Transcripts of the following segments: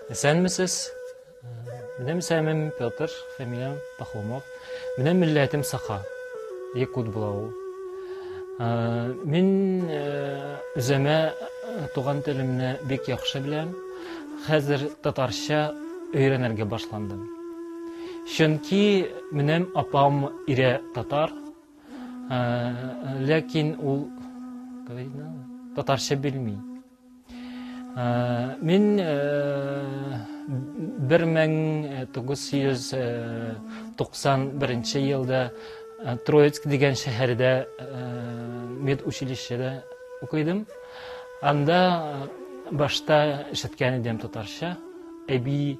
Әсәнмесез? Минем исемем Петр, фамилиям Пахомов. Минем милләтем Саха. Якут була ул. Мин үземә туган телемне бик яхшы беләм. Хәзер татарча өйрәнергә башландым. Чөнки минем апам ире татар, ә, ләкин ул татарча белми. Ә, мин ә, 1991 елда Троицк дигән шәһәрдә медучилищеда укыдым. Анда башта ишеткән идем татарча. Әби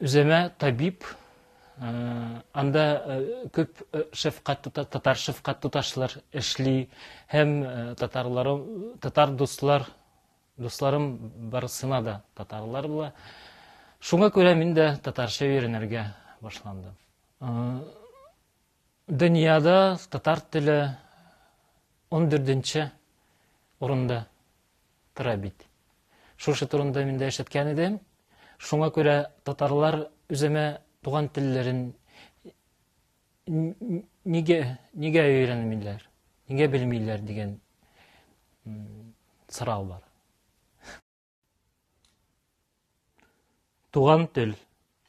Үземә табиб, анда күп шәфкать татар шәфкать туташлар эшли һәм татарларым татар дуслар дусларым барысына да татарлар була. Шуңа күрә мин дә татарча өйрәнергә башландым. Дөньяда татар теле ундүртенче урында тора бит. Шушы турында мин дә ишеткән идем. Шуңа күрә татарлар үземә туган телләрен нигә нигә өйрәнмиләр? Нигә белмиләр дигән сорау бар. Туган тел.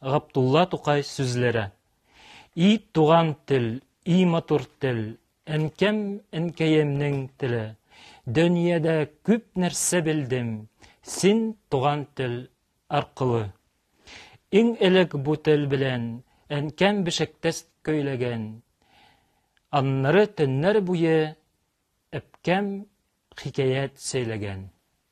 Габдулла Тукай сүзләре. И туган тел, и матур тел, әнкәм, әнкәемнең теле. Дөньяда күп нәрсә белдем, син туган тел аркылы. Иң элек бу тел белән әнкәм бешектәс көйләгән. Аннары төннәр буе әпкәм хикәят сөйләгән.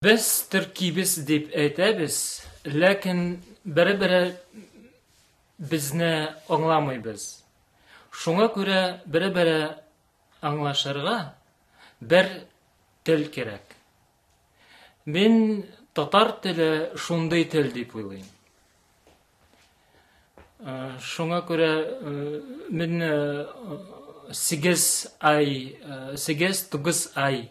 Без төркибез дип әйтәбез, ләкин бере-бере безне аңламыйбыз. Шуңа күрә бере-бере аңлашырга бер тел кирәк. Мин татар теле шундый тел дип уйлыйм. Шуңа күрә мин сигез ай, сигез тугыз ай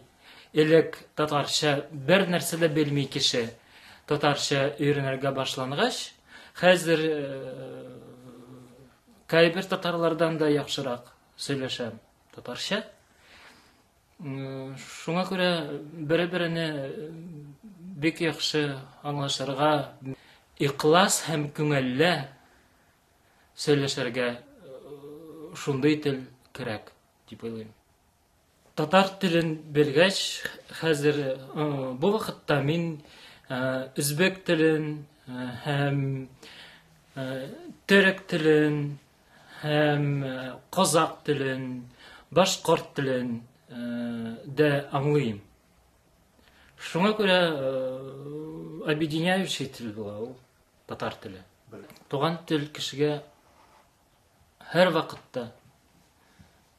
элек татарча бер нәрсә дә белми кеше татарча өйрәнергә башлангач, хәзер кайбер татарлардан да яхшырак сөйләшәм татарча. Шуңа күрә бере-берене бик яхшы аңлашырга, ихлас һәм күңелле сөйләшергә э, шундый тел кирәк дип уйлыйм. Татар телен белгәч, хәзер э, бу вакытта мин э, үзбек телен һәм төрек телен һәм казак телен, башкорт телен дә аңлыйм. Шуңа күрә объединяющий тел була ул татар теле. Туган тел кешегә һәр вакытта